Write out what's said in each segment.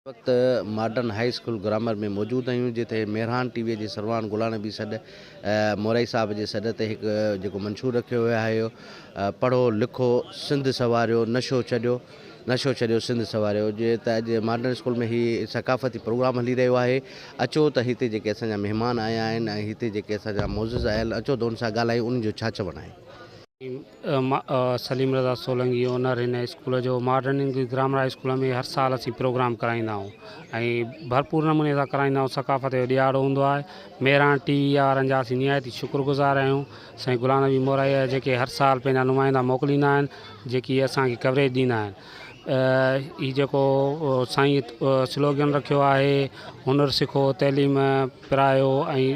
ان وقت modern high school grammar ۾ موجود هيون جتي مهراڻ ٽي وي جي سرواڻ گلا نبي سڏ مورائي صاحب جي سڏ تي هڪ جيڪو منشور رکيو ويو هيو پڙهو لکو سنڌ سواريو نشو ڇڏيو نشو ڇڏيو سنڌ سواريو جي ته اڄ ماڊرن اسڪول ۾ هي ثقافتي پروگرام هلي رهيو آهي اچو ته هتي جيڪي اسان جا مهمان آيا آهن ۽ هتي جيڪي اسان جا معزز آيل اچو ته ان سان ڳالهايون ان جو ڇا چوڻ آهي. سليم رضا سولنگي اونر هن اسڪول جو modern English grammar high school ۾ هر سال اسين پروگرام ڪرائيندا آهيون ۽ ڀرپور نموني سان ڪرائيندا آهيون ثقافت جو ڏيهاڙو هوندو آهي ميراڻ ٽي وي وارن جا اسين نهايت ئي شڪر گذار آهيون سائين غلام نبي مورائي جا جيڪي هر سال پنهنجا نمائندا موڪليندا آهن جيڪي اسانکي ڪوريج ڏيندا آهن هي جيڪو سائين سلوگن رکيو آهي هنر سکو تعليم پرايو ۽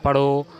پڙهو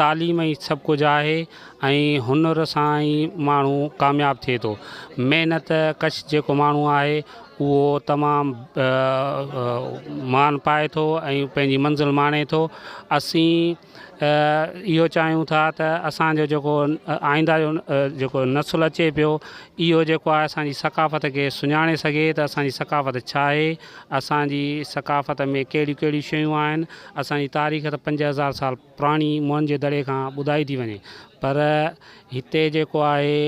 تعليم ئي سڀ ڪجهه آهي ۽ هنر سان ئي ماڻهو ڪامياب ٿئي ٿو. محنت ڪش جيڪو ماڻهو آهي اهو تمام مان پائي ٿو ۽ پنهنجي منزل ماڻي ٿو. اسين اهو چاهيون ٿا ته اسانجو جيڪو آئنده جو جيڪو نسل اچي پيو اهو جيڪو آهي اسانجي ثقافت کي سڃاڻي سگهي ته اسانجي ثقافت ڇا آهي، اسانجي ثقافت ۾ ڪهڙيون ڪهڙيون شيون آهن، اسانجي تاريخ ته پنج هزار سال پراڻي موهن جي دڙي کان ٻڌائي ٿي وڃي پر هتي جيڪو آهي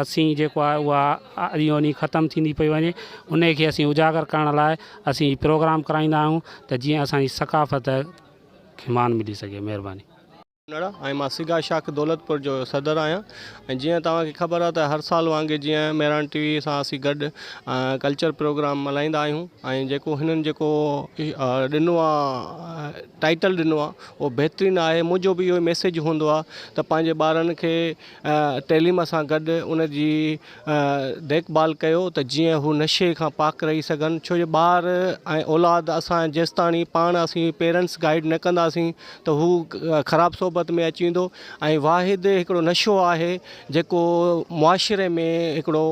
اسين جيڪو آهي اها اڏيو وڃي ختم ٿيندي پئي وڃي ان کي اسين اجاگر ڪرڻ لاء اسين هي پروگرام ڪرائيندا آهيون ته جيئن اسان جي ثقافت کي مان ملي سگهي مهرباني ڪنڙ ۽ مان سگا شاخ دولتپور جو صدر آهيان ۽ جيئن توهان کي خبر آهي ته هر سال وانگي جيئن مهراڻ ٽي وي سان اسين گڏ ڪلچر پروگرام ملهائيندا آهيون ۽ جيڪو هنن جيڪو ڏنو آهي ٽائيٽل ڏنو آ اهو بهترين آهي منهنجو به اهو ئي ميسيج هوندو آ ته پنهنجي ٻارن کي تعليم سان گڏ ان جي ديک ڀال ڪيو ته جيئن هو نشي کان پاڪ رهي سگهن ڇو جو ٻار ۽ اولاد اسان جيستاڻي پاڻ اسين پيرنٽس گائيڊ نه ڪنداسين ته هو خراب صحبت ۾ اچي ويندو ۽ واحد هڪڙو نشو آهي جيڪو معاشري ۾ هڪڙو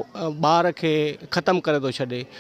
ٻار کي ختم ڪري ٿو ڇڏي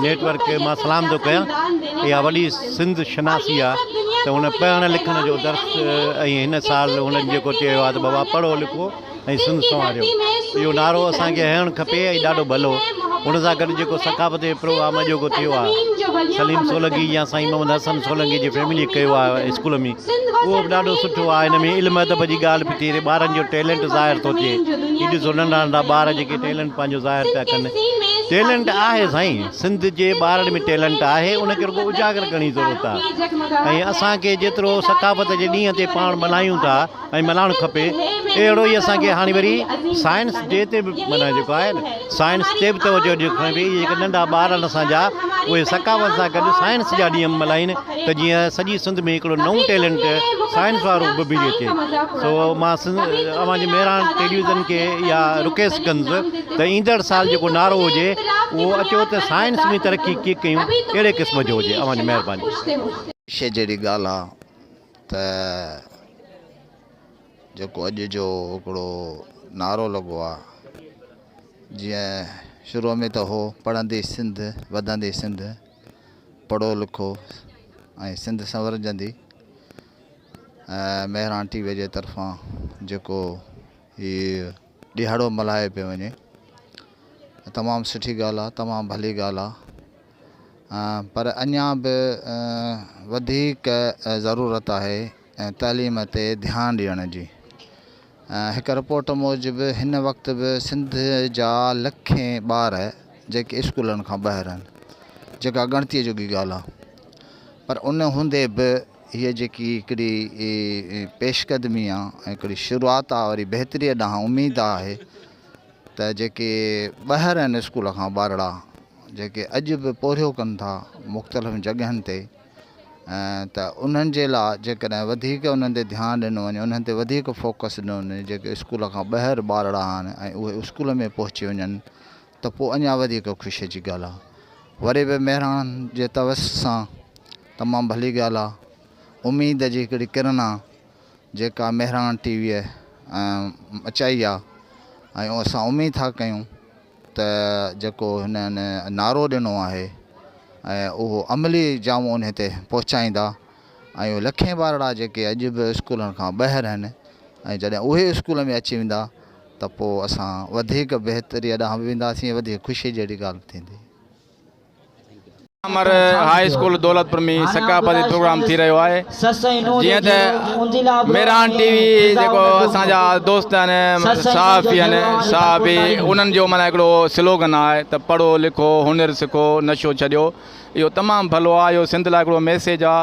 نيٽ ورڪ کي مان سلام ٿو ڪيان اها وڏي سنڌ شناسي آ ته هن پڙهڻ لکڻ جو درس ۽ هن سال هنن جيڪو چيو آ ته بابا پڙهو لکو ۽ سنڌ سنواريو اهو نعرو اسان کي هيڻ کپي ۽ ڏاڍو ڀلو ان سان گڏ جيڪو ثقافتي پروگرام اڄوڪو ٿيو آ سليم سولنگي يا سائين محمد حسن سولنگي جي فيملي ڪيو آ اسڪول ۾ اهو به ڏاڍو سٺو آ ان ۾ علم ادب جي ڳالهه به ٿي رهي ٻارن جو ٽيلنٽ ظاهر ٿو ٿئي هي ڏسو ننڍا ننڍا ٻار جيڪي ٽيلنٽ پنهنجو ظاهر پيا ڪن ٽيلنٽ آهي سائين سنڌ جي ٻارڙن ۾ ٽيلنٽ آهي ان کي رڳو اجاگر ڪرڻ جي ضرورت آهي ۽ اسان کي جيترو ثقافت جي ڏينهن تي پاڻ ملهايون ٿا ۽ ملهائڻ کپي اهڙو ئي اسان کي هاڻي وري سائنس ڊي تي به ملهائڻ جيڪو آهي نه سائنس تي به توجه ڏيڻ کپي جيڪي ننڍا ٻارڙن اسان جا اهي ثقافت سان گڏ سائنس جا ڏينهن ملهائين ته جيئن سڄي سنڌ ۾ هڪڙو نئون ٽيلنٽ سائين فاروق به ڀيڙي اچي سو مان اوهان جي مهراڻ ٽيليوزن کي اها رڪيس ڪندس ته ايندڙ سال جيڪو نعرو هجي اهو اچو ته سائنس ۾ ترقي ڪي ڪيون ڪهڙي قسم جو هجي اوهان جي مهرباني. شيء جهڙي ڳالهه آ ته جيڪو اڄ جو هڪڙو نعرو لڳو آ جيئن شروع ۾ ته هو پڙهندي سنڌ وڌندي سنڌ پڙهو لکو ۽ سنڌ سنورجندي مهراڻ ٽي وي جي طرفان جيڪو هي ڏهاڙو ملهايو پيو وڃي تمام سٺي ڳالهه آهي تمام ڀلي ڳالهه آهي پر اڃا به وڌيڪ ضرورت آهي تعليم تي ڌيان ڏيڻ جي هڪ رپورٽ موجب هن وقت به سنڌ جا لکين ٻار جيڪي اسڪولن کان ٻاهر آهن جيڪا ڳڻتي جوڳي ڳالهه آهي پر ان هوندي به هيء جيڪي هڪڙي پيش قدمي آهي ۽ هڪڙي شروعات آهي وري بهتري ڏانهن اميد آهي ته جيڪي ٻاهر آهن اسڪول کان ٻارڙا جيڪي اڄ به پورهيو ڪن ٿا مختلف جڳهن تي ته انهن جي لا جيڪڏهن وڌيڪ انهن تي ڌيان ڏنو وڃي انهن تي وڌيڪ فوڪس ڏنو وڃي جيڪي اسڪول کان ٻاهر ٻارڙا آهن ۽ اهي اسڪول ۾ پهچي وڃن ته پوء اڃا وڌيڪ خوشي جي ڳالهه آهي وري به مهراڻن جي توس سان تمام ڀلي ڳالهه آهي اميد جي هڪڙي ڪرن آهي جيڪا مهراڻ ٽي ويء مچائي آهي ۽ اسان اميد ٿا ڪيون ته جيڪو هنن نعرو ڏنو آهي ۽ اهو عملي جامو انهي تي پهچائيندا ۽ اهي لکين ٻارڙا جيڪي اڄ به اسڪولن کان ٻاهر آهن ۽ جڏهن اهي اسڪول ۾ اچي ويندا ته پوء اسان وڌيڪ بهتري ڏانهن به وينداسين وڌيڪ خوشي جهڙي ڳالهه به ٿيندي. امر هاء اسڪول دولتپور ۾ ثقافتي پروگرام ٿي رهيو آهي جيئن ته ميران ٽي وي جيڪو اسان جا دوست آهن صحافي آهن صحافي انهن جو مانا هڪڙو سلوگن آهي ته پڙهو لکو هنر سکو نشو ڇڏيو اهو تمام ڀلو آهي اهو سنڌ لاء هڪڙو ميسيج آهي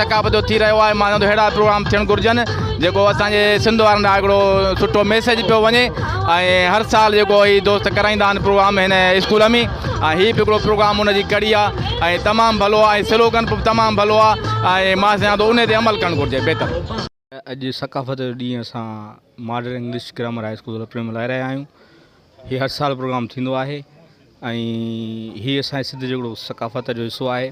ثقافت جو ٿي رهيو آهي مانجو اهڙا پروگرام ٿيڻ گهرجن جيڪو اسان جي سنڌ وارن لاء هڪڙو سٺو ميسيج پيو وڃي ۽ هر سال جيڪو هي دوست ڪرائيندا آهن پروگرام هن اسڪول ۾ ۽ هي به هڪڙو پروگرام ان جي ڪڙي آهي ۽ تمام ڀلو آهي سلوگن به تمام ڀلو آهي ۽ مان سمجهان ٿو ان تي عمل ڪرڻ گهرجي بهتر اڄ ثقافت جو ڏينهن اسان model English grammar high school رپلي ملهائي رهيا آهيون هي هر سال پروگرام ٿيندو آهي ۽ هي اسان سنڌ جو هڪڙو ثقافت جو حصو آهي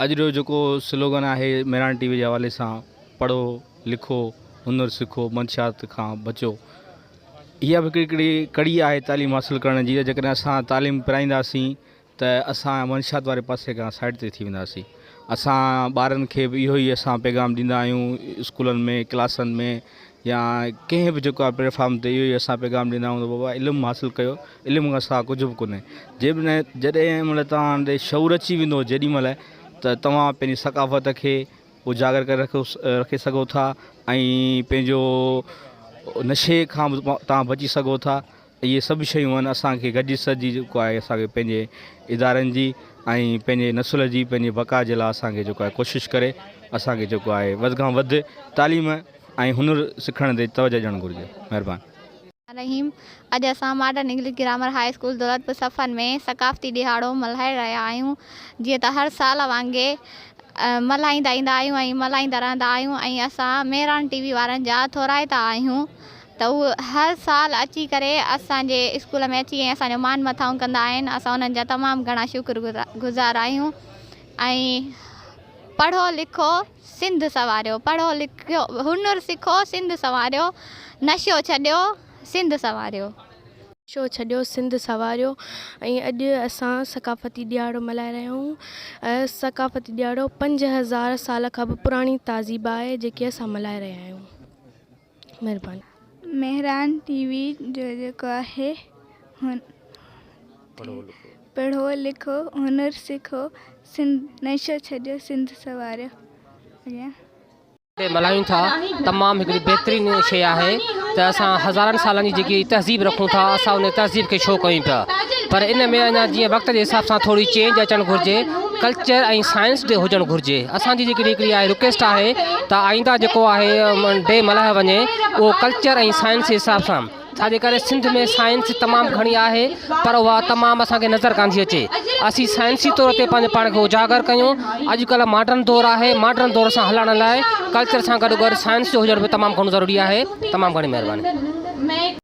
اڄ جو جيڪو سلوگن آهي ميران ٽي وي جي حوالي سان پڙهو لکو هنر سکو منشيات کان بچو اها به هڪڙي هڪڙي ڪڙي آهي تعليم حاصل ڪرڻ جي جيڪڏهن اسان تعليم پرائينداسين ته اسان منشيات واري پاسي کان سائيڊ تي ٿي وينداسين اسان ٻارن کي به اهو ئي اسان پيغام ڏيندا آهيون اسڪولن ۾ ڪلاسن ۾ يا ڪنهن به جيڪو پليٽفارم تي اهو ئي اسان پيغام ڏيندا آهيون ته بابا علم حاصل ڪيو علم کان سواء ڪجهه به ڪونهي جي به نه جڏهن مطلب تان ڏي شعور اچي ويندو جيڏي مهل ته توهان پنهنجي ثقافت کي اجاگر ڪري رکو رکي سگهو ٿا ۽ پنهنجو نشي کان به توهان بچي سگهو ٿا اهي سڀ شيون آهن اسان کي گڏجي سڏجي جيڪو آهي اسان کي پنهنجي ادارن جي ۽ پنهنجي نسل جي پنهنجي بقا جي لاء اسان کي جيڪو آهي ڪوشش ڪري اسان کي جيڪو آهي وڌ کان وڌ تعليم ۽ هنر سکڻ تي توجه ڏيڻ گهرجي مهربان. رحيم اڄ اسان modern English grammar high school Daulatpur Safan ۾ ثقافتي ڏيهاڙو ملهائي رهيا آهيون جيئن ته هر سال وانگي ملهائيندا ايندا آهيون ۽ ملهائيندا رهندا آهيون ۽ اسان مهراڻ ٽي وي وارن جا ٿورائتا آهيون ته هو هر سال اچي ڪري اسان جي اسڪول ۾ اچي ۽ اسان جو مان مٿائون ڪندا آهن اسان انهن جا تمام گهڻا شڪر گذار آهيون ۽ پڙهو لکو سنڌ سنواريو پڙهو لکيو هنر سکو سنڌ سنواريو نشو ڇڏيو سنڌ سنواريو. نشو ڇڏيو سنڌ سنواريو ۽ اڄ اسان ثقافتي ڏيهاڙو ملهائي رهيا آهيون ۽ ثقافتي ڏيهاڙو پنج هزار سال کان به پراڻي تهذيب آهي جيڪي اسان ملهائي رهيا آهيون. مھرباني. مهران ٽي وي جو جيڪو آهي پڙهو لکو هنر سکو سنڌ نشو ڇڏيو سنڌ سنواريو اڳيان. تي ملهايون ٿا تمام هڪڙي بهترين شي آهي ته اسان هزارن سالن جي جيڪي تهذيب رکون ٿا اسان ان تهذيب کي شو ڪيون پيا پر ان ۾ اڃا جيئن وقت جي حساب سان ٿوري چينج اچڻ گهرجي ڪلچر ۽ سائنس ڊي هجڻ گهرجي اسان جي جيڪي هڪڙي آهي رڪويسٽ آهي ته آئنده جيڪو آهي ڊي ملهايو وڃي اهو ڪلچر ۽ سائنس جي حساب سان ڇا جي ڪري سنڌ ۾ سائنس تمام گهڻي آهي پر اها تمام اسان کي نظر ڪانٿي اچي اسين سائنسي طور تي پنهنجو پاڻ کي اجاگر ڪيون اڄ ڪلهه ماڊرن دور آهي ماڊرن دور سان هلڻ لاء ڪلچر سان گڏ گڏ سائنس جو هجڻ به تمام گهڻو ضروري آهي تمام گهڻي مهرباني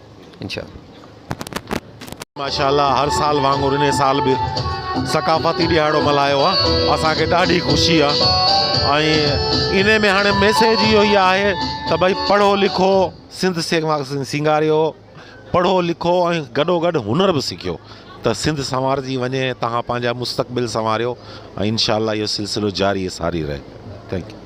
ماشاء الله هر سال وانگر ان سال به ثقافتي ڏهاڙو ملهايو آ اسان کي ڏاڍي خوشي آ ۽ ان ۾ هاڻي ميسيج اهو ئي آهي ته ڀئي پڙهو لکو سنڌ سينگاريو پڙهو لکو ۽ گڏو گڏ هنر به سکيو ته سنڌ سنوارجي وڃي توهان پنهنجا مستقبل سنواريو ۽ انشاء الله اهو سلسلو جاري ساري رهي ٿينڪ يو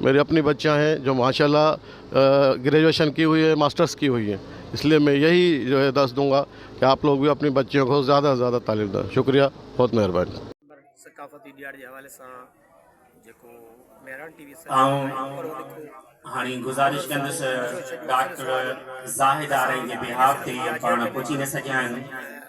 ميري اپني بچيان هين جو ماشاء الله گريجوئيشن ڪي هئي هي ماسٽرس ڪي هئي هي اس لئي مي يهي جو هي دس دونگا ڪي آپ لوگ بي اپني بچيون ڪو زياده سي زياده تعليم دين شڪريه بهت مهرباني. ثقافتي ڏياڙ جي حوالي سان جيڪو مهراڻ ٽي وي سان آئون هاڻي گذارش ڪندس ڊاڪٽر زاهد آرائين جي بيهاف تي پاڻ پهچي نه سگهيا آهن.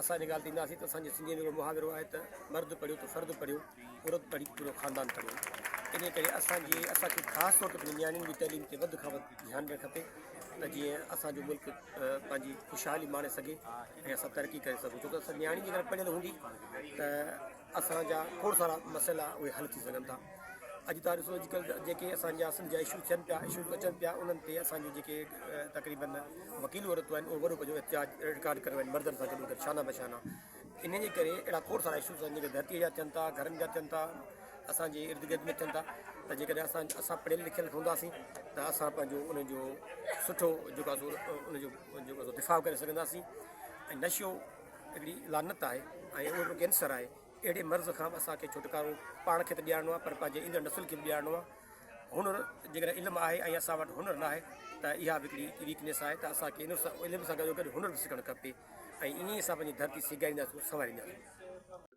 اسان جي ڳالهه تي اينداسين ته اسان جي سنڌيء ۾ هڪڙو محاورو آهي ته مرد پڙهيو ته فرد پڙهيو، عورت پڙهي ته پورو خاندان پڙهيو. انهيء ڪري اسان جي اسان کي خاص طور تي پنهنجي نياڻين جي تعليم تي وڌ کان وڌ ڌيان ڏيڻ کپي ته جيئن اسان جو ملڪ پنهنجي خوشحالي ماڻي سگهي ۽ اسان ترقي ڪري سگهون ڇو ته نياڻي جيڪڏهن پڙهيل هوندي ته اسان جا کوڙ سارا مسئلا اهي حل ٿي سگهن ٿا اڄ تان ڏسو اڄ ڪلهه جيڪي اسان جا سنڌ جا اشو ٿين پيا اشو اچن پيا انهن تي اسان جو جيڪي تقريبن وڪيل عورتون آهن اهو وڏو پنهنجو احتجاج رڪارڊ ڪريو آهن مردن سان گڏو گڏ شانه بشانه ان جي ڪري اهڙا کوڙ سارا اشوز آهن جيڪي ڌرتي جا ٿين ٿا گھرن جا ٿين ٿا اسان جي ارد گرد ۾ ٿين ٿا ته جيڪڏهن اسان اسان پڙهيل لکيل هونداسين ته اسان پنهنجو ان جو سٺو جيڪو ان جو جيڪو دفاع ڪري سگھنداسين ۽ نشو هڪڙي لعنت آهي ۽ اهو هڪڙو ڪينسر آهي. اهڙي مرض کان به اسان کي ڇوٽڪارو پاڻ کي ته ڏيارڻو آهي پر پنهنجي ايندڙ نسل کي به ڏيارڻو آهي. هنر جيڪڏهن علم آهي ۽ اسان وٽ هنر ناهي ته اها به هڪڙي ويڪنيس آهي ته اسان کي علم سان گڏوگڏ هنر به سکڻ کپي ۽ ائين ئي اسان پنهنجي ڌرتي سيگارينداسون سنوارينداسون.